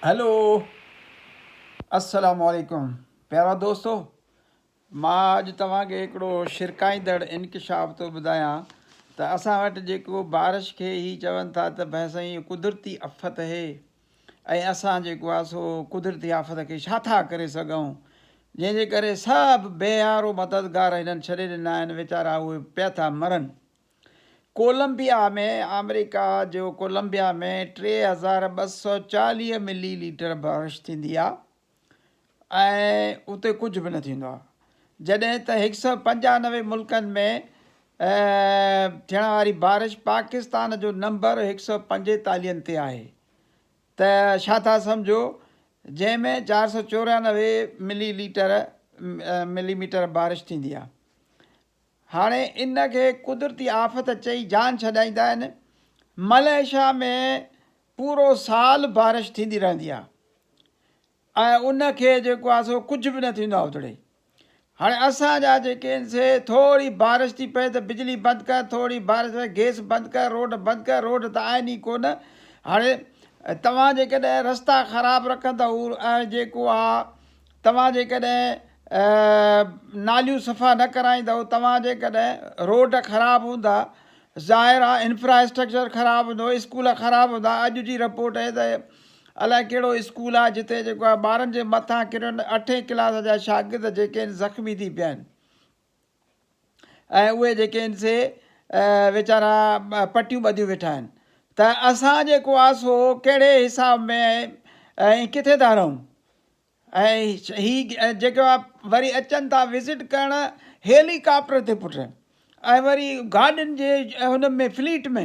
Hello السلام عليڪم پيارا دوستو مان اڄ توهان کي هڪڙو شرڪائيندڙ انڪشاف ٿو ٻڌايان ته اسان وٽ جيڪو بارش کي هي چون ٿا ته ڀي سائين هي قدرتي افت اهي ۽ اسان جيڪو آهي سو قدرتي آفت کي ڇا ٿا ڪري سگهون جنهن جي ڪري سڀ بيهارو مددگار هنن ڇڏي ڏنا آهن ويچارا اهي پيا ٿا مرن ڪولمبيا ۾ آمريڪا جو ڪولمبيا ۾ ٽي هزار ٻه سؤ چاليهه ملي ليٽر بارش ٿيندي آهي ۽ اتي ڪجهه به نه ٿيندو آهي جڏهن ته هڪ سؤ پنجانوي ملڪن ۾ ٿيڻ واري بارش پاڪستان جو نمبر هڪ سؤ پنجيتاليهن تي آهي ته ڇا ٿا سمجهو جنهن ۾ چار سؤ چورانوي ملي ليٽر ملي ميٽر بارش ٿيندي آهي هاڻي ان کي قدرتي آفت چئي جان ڇڏائيندا آهن. ملائيشيا ۾ پورو سال بارش ٿيندي رهندي آهي ۽ ان کي جيڪو آهي سو ڪجهه به نه ٿيندو آهي اتڙي. هاڻي اسان جا جيڪي آهن سي ٿوري بارش ٿي پئي ته بجلي بند ڪر ٿوري بارش ۾ گيس بند ڪر روڊ بند ڪر روڊ ته آهن ئي ڪونه هاڻي توهان جيڪڏهن رستا خراب رکندا ۽ جيڪو آهي توهان جيڪڏهن ناليون صفا نه ڪرائيندؤ توهان جيڪڏهن روڊ خراب هوندا ظاهر آهي انفراسٽرڪچر خراب هوندو اسڪول خراب هوندا اڄ جي رپورٽ اهي ته الائي ڪهڙو اسڪول آهي جتي جيڪو آهي ٻارن جي مٿان ڪريو اٺين ڪلاس جا شاگرد جيڪي آهن زخمي ٿي پيا آهن ۽ اهي جيڪي آهن سي ويچارا پٽيون ٻڌيون ويٺا آهن ته اسان جيڪو آهي سو ڪهڙي حساب ۾ ۽ ڪٿي ٿا رهون ۽ هي جيڪو آهي وري اچن ٿا وزٽ ڪرڻ هيلي ڪاپٽر تي پٽ ۽ وري گاڏين جي هن ۾ فليٽ ۾